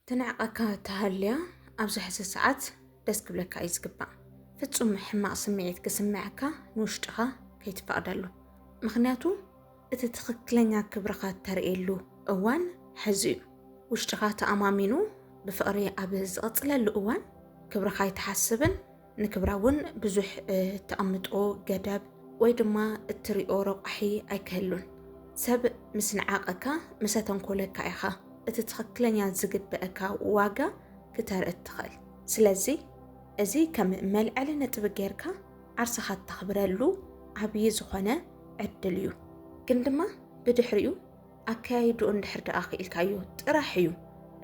ትንዕቀካ ተሃልያ ኣብዚ ሕዚ ሰዓት ደስ ክብለካ እዩ ዝግባእ። ፍጹም ሕማቕ ስምዒት ክስምዐካ ንውሽጥኻ ከይትፈቕደሉ። ምኽንያቱ እቲ ትኽክለኛ ክብርኻ እተርእየሉ እዋን ሕዚ እዩ። ውሽጥኻ ተኣማሚኑ ብፍቕሪ ኣብ ዝቕጽለሉ እዋን ክብርኻ ኣይትሓስብን ንክብራ እውን ብዙሕ እተቐምጦ ገደብ ወይ ድማ እትሪኦ ረቋሒ ኣይክህሉን። ሰብ ምስ ነዓቐካ፣ ምስ ኣተንኮለካ ኢኻ እቲ ትኽክለኛ ዝግበእካ ዋጋ ክተርኢ እትኽእል። ስለዚ እዚ ከም መልዐሊ ነጥቢ ጌርካ ዓርስኻ እተኽብረሉ ዓብዪ ዝኾነ ዕድል እዩ። ግን ድማ ብድሕሪኡ ኣከያይድኡ እንድሕር ደኣ ክኢልካዮ ጥራሕ እዩ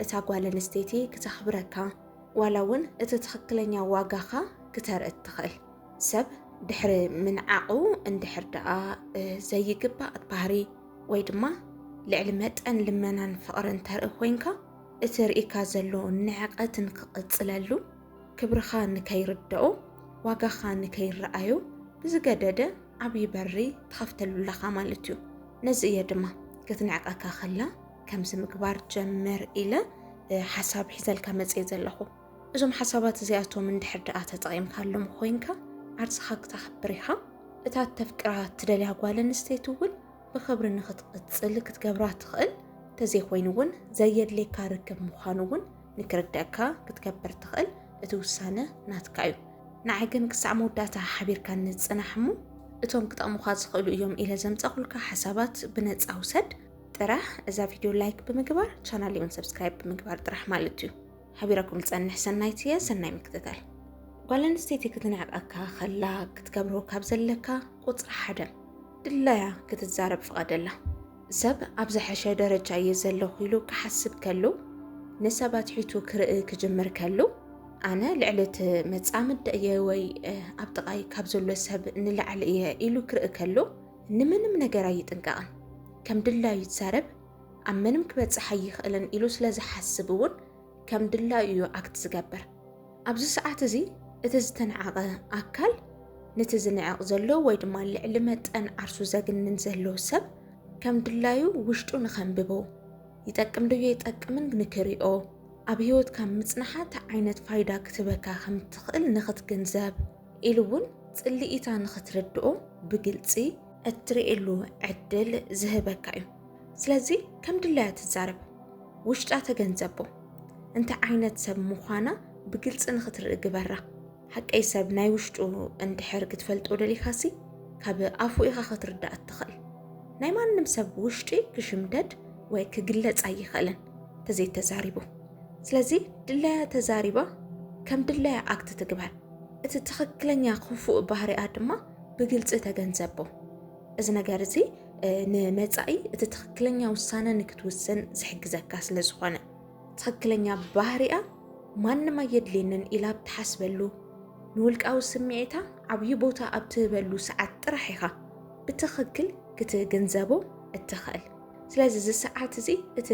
እታ ጓል ኣንስተይቲ ክተኽብረካ ዋላ እውን እቲ ትኽክለኛ ዋጋኻ ክተርኢ እትኽእል ሰብ ድሕሪ ምንዓቑ እንድሕር ደኣ ዘይግባእ ባህሪ ወይ ድማ ልዕሊ መጠን ልመናን ፍቕርን ተርኢ ኮይንካ እቲ ርኢካ ዘሎ ንዕቐትን ክቕፅለሉ ክብርኻ ንከይርደኦ ዋጋኻ ንከይረኣዩ ብዝገደደ ዓብዪ በሪ ትኸፍተሉ ኣለኻ ማለት እዩ። ነዚ እየ ድማ ክትንዕቀካ ከላ ከምዚ ምግባር ጀምር ኢለ ሓሳብ ሒዘልካ መፅየ ዘለኹ። እዞም ሓሳባት እዚኣቶም እንድሕር ደኣ ተጠቒምካሎም ኮይንካ ዓርስኻ ክተኽብር ኢኻ። እታ እተፍቅራ እትደልያ ጓል ኣንስተይቲ እውን ብኽብሪ ንኽትቕፅል ክትገብራ ትኽእል። እንተዘይኮይኑ እውን ዘየድልየካ ርክብ ምዃኑ እውን ንክርደኣካ ክትገብር ትኽእል እቲ ውሳነ ናትካ እዩ ንዓይ ግን ክሳዕ መወዳእታ ሓቢርካኒ ጽናሕ እሞ እቶም ክጠቕሙኻ ዝኽእሉ እዮም ኢለ ዘምጻኹልካ ሓሳባት ብነጻ ውሰድ ጥራሕ እዛ ቪድዮ ላይክ ብምግባር ቻናል እውን ሰብስክራይብ ብምግባር ጥራሕ ማለት እዩ ሓቢረኩም ዝጸንሕ ሰናይት እየ ሰናይ ምክትታል ጓል ኣንስተይቲ ክትንዕቀካ ከላ ክትገብሮ ካብ ዘለካ ቁጽሪ ሓደ ድላያ ክትዛረብ ፍቐደላ ሰብ ኣብ ዝሐሸ ደረጃ እየ ዘለኹ ኢሉ ክሓስብ ከሉ ንሰብ ኣትሒቱ ክርኢ ክጅምር ከሉ ኣነ ልዕሊ እቲ መጻምድ እየ ወይ ኣብ ጥቓይ ካብ ዘሎ ሰብ ንላዕሊ እየ ኢሉ ክርኢ ከሉ ንምንም ነገር ኣይጥንቀቕን ከም ድላዩ ይዛረብ ኣብ ምንም ክበጽሕ ኣይኽእልን ኢሉ ስለ ዝሓስብ እውን ከም ድላዩ እዩ ኣክት ዝገብር። ኣብዚ ሰዓት እዚ እቲ ዝተነዓቐ ኣካል ነቲ ዝንዕቕ ዘሎ ወይ ድማ ልዕሊ መጠን ዓርሱ ዘግንን ዘሎ ሰብ ከም ድላዩ ውሽጡ ንኸንብቦ ይጠቅም ዶ ይጠቅምን ንክሪኦ ኣብ ህይወትካ ምጽናሓ እንታይ ዓይነት ፋይዳ ክትበካ ከም እትኽእል ንኽትግንዘብ ኢሉ እውን ጽልኢታ ንኽትርድኦ ብግልጺ እትርእየሉ ዕድል ዝህበካ እዩ። ስለዚ ከም ድላያ ትዛረብ፣ ውሽጣ ተገንዘቦ፣ እንታይ ዓይነት ሰብ ምዃና ብግልጺ ንኽትርኢ ግበራ። ሓቀይ ሰብ ናይ ውሽጡ እንድሕር ክትፈልጦ ደሊኻሲ ካብ ኣፉ ኢኻ ክትርዳእ እትኽእል። ናይ ማንም ሰብ ውሽጢ ክሽምደድ ወይ ክግለጽ ኣይኽእልን ተዘይተዛሪቡ። ስለዚ ድላያ ተዛሪባ ከም ድላያ ኣክት ትግበር። እቲ ትኽክለኛ ክፉእ ባህሪኣ ድማ ብግልፂ ተገንዘቦ። እዚ ነገር እዚ ንመፃኢ እቲ ትኽክለኛ ውሳነ ንክትውስን ዝሕግዘካ ስለ ዝኾነ ትኽክለኛ ባህሪኣ ማንም ኣየድልየንን ኢላ ኣብ ትሓስበሉ ንውልቃዊ ስምዒታ ዓብዪ ቦታ ኣብ ትህበሉ ሰዓት ጥራሕ ኢኻ ብትኽክል ክትግንዘቦ እትኽእል። ስለዚ እዚ ሰዓት እዚ እቲ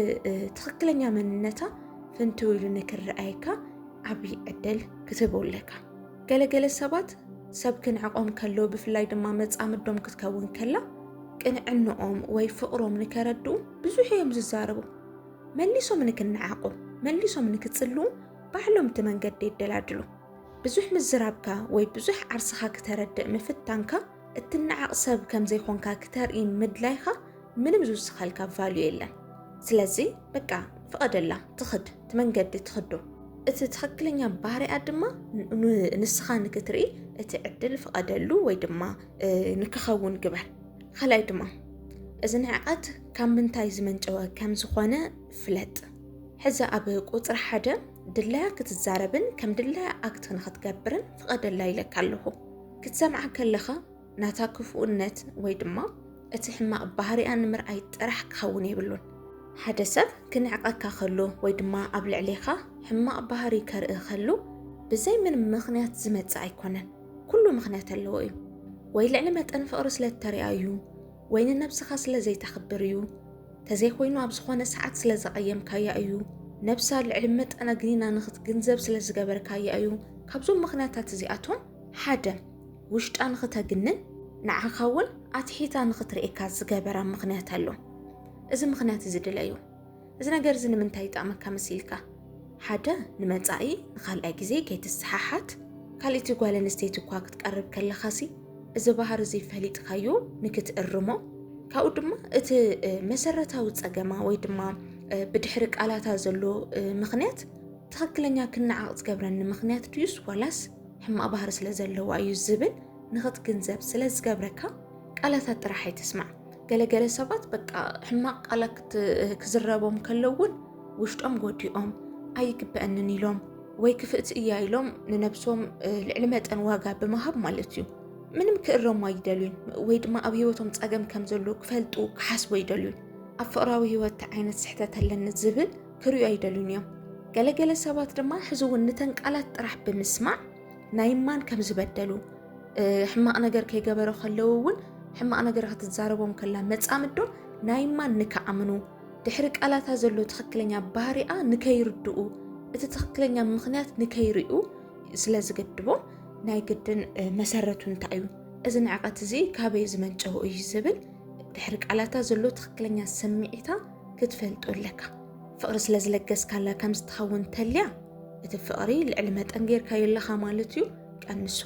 ትኽክለኛ መንነታ ፍንትው ኢሉ ንክረኣየካ ዓብዪ ዕድል ክትህቦ ኣለካ ገለገለ ሰባት ሰብ ክንዕቆም ከሎ ብፍላይ ድማ መፃምዶም ክትከውን ከላ ቅንዕንኦም ወይ ፍቕሮም ንከረድኡ ብዙሕ እዮም ዝዛረቡ መሊሶም ንክነዓቑ መሊሶም ንክፅልዉ ባዕሎም እቲ መንገዲ የደላድሉ ብዙሕ ምዝራብካ ወይ ብዙሕ ዓርስኻ ክተረድእ ምፍታንካ እትነዓቕ ሰብ ከም ዘይኮንካ ክተርኢ ምድላይካ ምንም ዝውስኸልካ ቫልዩ የለን ስለዚ በቃ ፍቐደላ ትኽድ ትመንገዲ ትኽዶ እቲ ትኽክለኛ ባህሪኣ ድማ ንስኻ ንክትርኢ እቲ ዕድል ፍቐደሉ ወይ ድማ ንክኸውን ግበር ካልኣይ ድማ እዚ ንዕቐት ካብ ምንታይ ዝመንጨወ ከም ዝኾነ ፍለጥ ሕዚ ኣብ ቁፅሪ ሓደ ድላያ ክትዛረብን ከም ድላያ ኣክት ንክትገብርን ፍቐደላ ኢለካ ኣለኹ ክትሰምዓ ከለኻ ናታ ክፉእነት ወይ ድማ እቲ ሕማቕ ባህሪኣ ንምርኣይ ጥራሕ ክኸውን የብሉን። ሓደ ሰብ ክንዕቐካ ከሎ ወይ ድማ ኣብ ልዕሌኻ ሕማቕ ባህሪ ከርኢ ከሉ ብዘይ ምንም ምኽንያት ዝመጽእ ኣይኮነን። ኩሉ ምኽንያት ኣለዎ እዩ። ወይ ልዕሊ መጠን ፍቕሪ ስለ እተሪኣ እዩ፣ ወይ ንነብስኻ ስለ ዘይተኽብር እዩ፣ ተዘይኮይኑ ኣብ ዝኾነ ሰዓት ስለ ዘቐየምካያ እዩ፣ ነብሳ ልዕሊ መጠን ኣግኒና ንኽትግንዘብ ስለ ዝገበርካያ እዩ። ካብዞም ምኽንያታት እዚኣቶም ሓደ ውሽጣ ንኽተግንን ንዓኻ እውን ኣትሒታ ንኽትርእየካ ዝገበራ ምኽንያት ኣሎ። እዚ ምኽንያት እዚ ድለዩ። እዚ ነገር እዚ ንምንታይ ይጠቕመካ መሲልካ? ሓደ ንመጻኢ ንኻልኣይ ግዜ ከይትሰሓሓት፣ ካልእቲ ጓል ኣንስተይቲ እኳ ክትቀርብ ከለኻሲ እዚ ባህሪ እዚ ፈሊጥካዮ ንክትእርሞ፣ ካብኡ ድማ እቲ መሰረታዊ ጸገማ ወይ ድማ ብድሕሪ ቃላታ ዘሎ ምኽንያት ትኽክለኛ ክነዓቕ ዝገብረኒ ምኽንያት ድዩስ ዋላስ ሕማቕ ባህሪ ስለ ዘለዋ እዩ ዝብል ንኽትግንዘብ ስለ ዝገብረካ ቃላታት ጥራሕ ኣይትስማዕ። ገለገለ ሰባት በቃ ሕማቕ ቃላት ክዝረቦም ከለውን ውሽጦም ጎዲኦም ኣይግበአንን ኢሎም ወይ ክፍእቲ እያ ኢሎም ንነብሶም ልዕሊ መጠን ዋጋ ብምሃብ ማለት እዩ ምንም ክእረሙ ኣይደልዩን ወይ ድማ ኣብ ሂወቶም ፀገም ከም ዘሎ ክፈልጡ ክሓስቡ ኣይደልዩን ኣብ ፍቕራዊ ሂወት ዓይነት ስሕተት ኣለኒ ዝብል ክሪኡ ኣይደልዩን እዮም። ገለ ገለ ሰባት ድማ ሕዚ እውን ንተን ቃላት ጥራሕ ብምስማዕ ናይ ማን ከም ዝበደሉ ሕማቕ ነገር ከይገበረ ከለዉ እውን ሕማቕ ነገር ክትዛረቦም ከላ መጻምዶ ናይ ማን ንክኣምኑ ድሕሪ ቃላታ ዘሎ ትኽክለኛ ባህሪኣ ንከይርድኡ እቲ ትኽክለኛ ምኽንያት ንከይርኡ ስለ ዝገድቦም ናይ ግድን መሰረቱ እንታይ እዩ እዚ ንዕቐት እዚ ካበይ ዝመንጨው እዩ ዝብል ድሕሪ ቃላታ ዘሎ ትኽክለኛ ስምዒታ ክትፈልጦ ኣለካ ፍቕሪ ስለ ዝለገስካላ ከም ዝትኸውን ተልያ እቲ ፍቕሪ ልዕሊ መጠን ጌርካዮ ኣለኻ ማለት እዩ ቀንሶ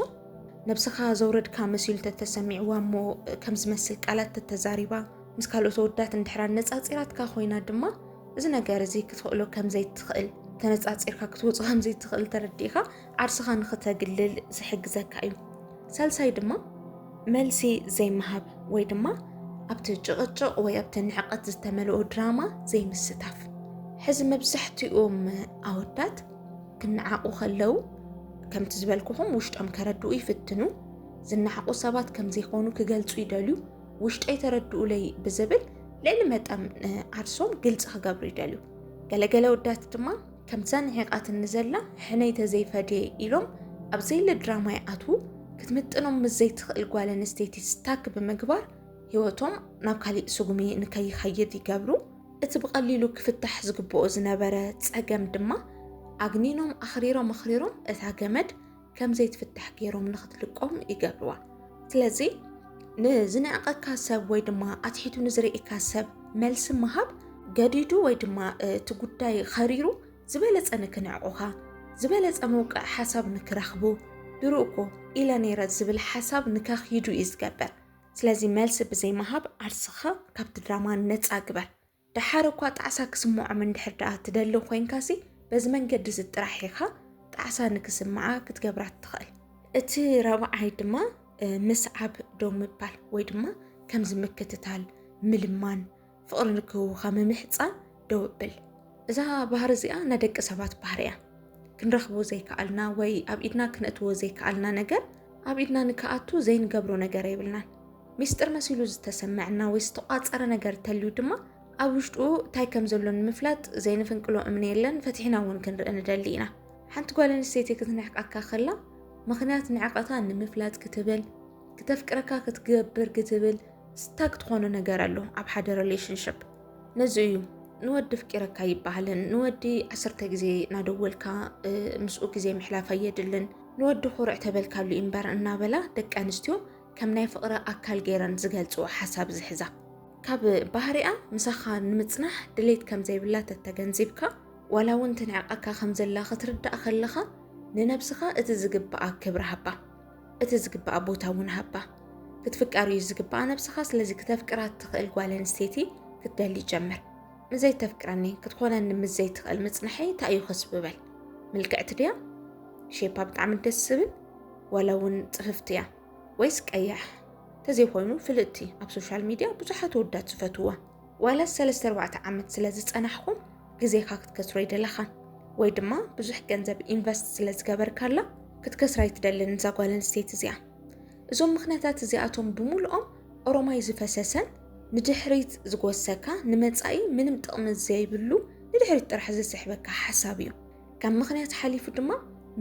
ነብስኻ ዘውረድካ መሲሉ ተተሰሚዕዋ እሞ ከም ዝመስል ቃላት ተተዛሪባ ምስ ካልኦት ወዳት እንድሕራ ነፃፂራትካ ኮይና ድማ እዚ ነገር እዚ ክትኽእሎ ከም ዘይትኽእል ተነፃፂርካ ክትወፁ ከም ዘይትኽእል ተረዲእኻ ዓርስኻ ንኽተግልል ዝሕግዘካ እዩ። ሳልሳይ ድማ መልሲ ዘይምሃብ ወይ ድማ ኣብቲ ጭቕጭቕ ወይ ኣብቲ ንዕቐት ዝተመልኦ ድራማ ዘይምስታፍ። ሕዚ መብዛሕትኦም ኣወዳት ክነዓቑ ከለው ከምቲ ዝበልኩኹም ውሽጦም ከረድኡ ይፍትኑ። ዝነዓቑ ሰባት ከም ዘይኮኑ ክገልጹ ይደልዩ። ውሽጠይ ተረድኡለይ ብዝብል ልዕሊ መጠን ዓርሶም ግልፂ ክገብሩ ይደልዩ። ገለገለ ወዳት ድማ ከምታ ንሒቓትኒ ዘላ ሕነይ ተዘይፈድየ ኢሎም ኣብ ዘይለ ድራማ ይኣትዉ፣ ክትምጥኖም ምስ ዘይትኽእል ጓል ኣንስተይቲ ስታክ ብምግባር ህይወቶም ናብ ካሊእ ስጉሚ ንከይኸይድ ይገብሩ። እቲ ብቐሊሉ ክፍታሕ ዝግብኦ ዝነበረ ፀገም ድማ ኣግኒኖም ኣኽሪሮም ኣኽሪሮም እታ ገመድ ከም ዘይትፍታሕ ገይሮም ንክትልቆም ይገብርዋ ስለዚ ንዝንዕቀካ ሰብ ወይ ድማ ኣትሒቱ ንዝርእካ ሰብ መልሲ ምሃብ ገዲዱ ወይ ድማ እቲ ጉዳይ ኸሪሩ ዝበለፀ ንክንዕቑኻ ዝበለፀ መውቅዕ ሓሳብ ንክረኽቡ ድሩእኮ ኢለ ነይረ ዝብል ሓሳብ ንከኽይዱ እዩ ዝገበር ስለዚ መልሲ ብዘይምሃብ ዓርስኻ ካብቲ ድራማ ነፃ ግበር ደሓር እኳ ጣዕሳ ክስምዖም እንድሕር ደኣ ትደሊ ኮይንካሲ በዚ መንገዲ እዚ ጥራሕ ኢኻ ጣዕሳ ንክስምዓ ክትገብራ እትኽእል። እቲ ራብዓይ ድማ ምስዓብ ደው ምባል ወይ ድማ ከምዚ ምክትታል፣ ምልማን፣ ፍቕሪ ንክህቡኻ ምምሕጻን ደው ብል። እዛ ባህሪ እዚኣ ናይ ደቂ ሰባት ባህሪ እያ። ክንረኽቦ ዘይከኣልና ወይ ኣብ ኢድና ክነእትዎ ዘይከኣልና ነገር ኣብ ኢድና ንክኣቱ ዘይንገብሮ ነገር የብልናን። ሚስጥር መሲሉ ዝተሰመዐና ወይ ዝተቋፀረ ነገር እንተልዩ ድማ ኣብ ውሽጡ እንታይ ከም ዘሎ ንምፍላጥ ዘይንፍንቅሎ እምኒ የለን፣ ፈትሒና እውን ክንርኢ ንደሊ ኢና። ሓንቲ ጓል ኣንስተይቲ ክትንዕቀካ ከላ ምኽንያት ንዕቐታ ንምፍላጥ ክትብል ክተፍቅረካ ክትገብር ክትብል ስታክ ትኾኖ ነገር ኣሎ ኣብ ሓደ ሪሌሽንሽፕ ነዚ እዩ ንወዲ ፍቂረካ ይበሃልን ንወዲ ዓሰርተ ግዜ እናደወልካ ምስኡ ግዜ ምሕላፍ ኣየድልን ንወዲ ኩርዕ ተበልካሉ እምበር እናበላ ደቂ ኣንስትዮ ከም ናይ ፍቕሪ ኣካል ገይረን ዝገልፅዎ ሓሳብ ዝሕዛ ካብ ባህሪኣ ምሳኻ ንምፅናሕ ድሌት ከም ዘይብላ ተተገንዚብካ ዋላ እውን ትንዕቐካ ከም ዘላ ክትርዳእ ከለኻ ንነብስኻ እቲ ዝግብኣ ክብሪ ሃባ እቲ ዝግባኣ ቦታ እውን ሃባ ክትፍቀር እዩ ዝግባኣ ነብስኻ ስለዚ ክተፍቅራ እትኽእል ጓል ኣንስተይቲ ክትደሊ ጀምር ንዘይተፍቅረኒ ክትኾነኒ ምስ ዘይትኽእል ምጽንሐይ እንታይ እዩ ከስብበል ምልክዕቲ ድያ ሼፓ ብጣዕሚ ደስ ዝብል ዋላ እውን ፅፍፍቲ እያ ወይስ ቀያሕ ተዘይኮይኑ ፍልጥቲ ኣብ ሶሻል ሚድያ ብዙሓት ወዳት ዝፈትዋ ዋላስ ሰለስተ ኣርባዕተ ዓመት ስለ ዝጸናሕኩም ግዜኻ ክትከስሮ ኣይደለኻን ወይ ድማ ብዙሕ ገንዘብ ኢንቨስት ስለ ዝገበርካላ ክትከስራ ኣይትደልን እዛ ጓል ኣንስተይቲ እዚኣ እዞም ምክንያታት እዚኣቶም ብምልኦም ኦሮማይ ዝፈሰሰን ንድሕሪት ዝጎሰካ ንመጻኢ ምንም ጥቕሚ ዘይብሉ ንድሕሪት ጥራሕ ዝስሕበካ ሓሳብ እዩ ካብ ምክንያት ሓሊፉ ድማ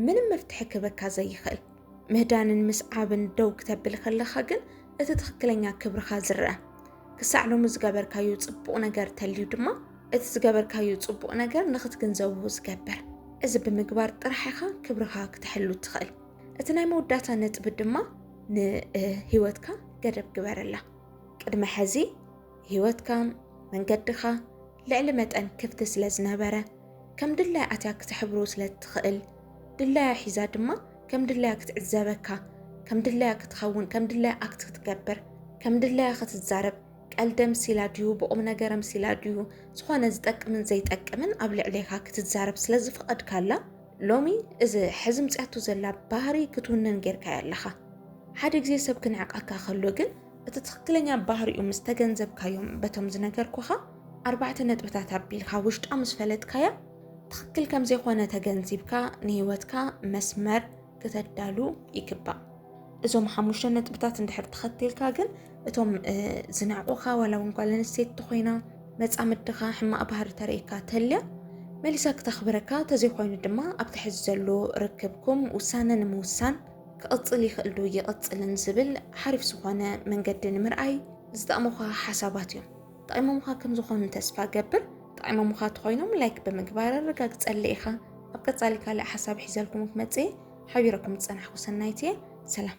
ምንም መፍትሒ ክህበካ ዘይኽእል ምህዳንን ምስዓብን ደው ክተብል ከለኻ ግን እቲ ትኽክለኛ ክብርኻ ዝረአ ክሳዕ ሎሚ ዝገበርካዩ ፅቡቕ ነገር ተልዩ ድማ እቲ ዝገበርካዩ ፅቡቕ ነገር ንኽትግንዘቡ ዝገብር እዚ ብምግባር ጥራሕ ኢኻ ክብርኻ ክትሕሉ ትኽእል እቲ ናይ መወዳእታ ነጥቢ ድማ ንህይወትካ ገደብ ግበረላ ቅድመ ሕዚ ህይወትካ መንገድኻ ልዕሊ መጠን ክፍቲ ስለ ዝነበረ ከም ድላይ ኣትያ ክትሕብሩ ስለ ትኽእል ድላያ ሒዛ ድማ ከም ድላያ ክትዕዘበካ ከም ድላያ ክትኸውን ከም ድላያ ኣክት ክትገብር ከም ድላያ ክትዛረብ ቀልደ ምሲላ ድዩ ብቑም ነገረ ምሲላ ድዩ ዝኾነ ዝጠቅምን ዘይጠቅምን ኣብ ልዕሌኻ ክትዛረብ ስለ ዝፈቐድካላ ሎሚ እዚ ሕዚ ምፅያቱ ዘላ ባህሪ ክትውንን ጌርካያ ኣለኻ ሓደ ግዜ ሰብ ክንዕቀካ ከሎ ግን እቲ ትኽክለኛ ባህሪኡ ምስ ተገንዘብካዮም በቶም ዝነገርኩኻ ኣርባዕተ ነጥብታት ኣቢልካ ውሽጣ ምስ ፈለጥካያ ትኽክል ከም ዘይኮነ ተገንዚብካ ንህይወትካ መስመር ክተዳሉ ይግባእ እዞም ሓሙሽተ ነጥብታት እንድሕር ተኸቲልካ ግን እቶም ዝናዕቑኻ ዋላ እውን ጓል ኣንስተይቲ ኮይና መፃምድኻ ሕማቕ ባህሪ ተርእካ ተልያ መሊሳ ክተኽብረካ ተዘይኮይኑ ድማ ኣብቲ ሕዚ ዘሎ ርክብኩም ውሳነ ንምውሳን ክቕፅል ይኽእል ዶ ይቕፅልን ዝብል ሓሪፍ ዝኾነ መንገዲ ንምርኣይ ዝጠቕሙኻ ሓሳባት እዮም ጠቂሞሙኻ ከም ዝኾኑ ተስፋ እገብር። ጠቂሞሙኻ ተኾይኖም ላይክ ብምግባር ኣረጋግጸለይ ኢኻ። ኣብ ቀጻሊ ካልእ ሓሳብ ሒዘልኩም ክመጽእ እየ። ሓቢረኩም ዝጸናሕኩ ሰናይት እየ። ሰላም።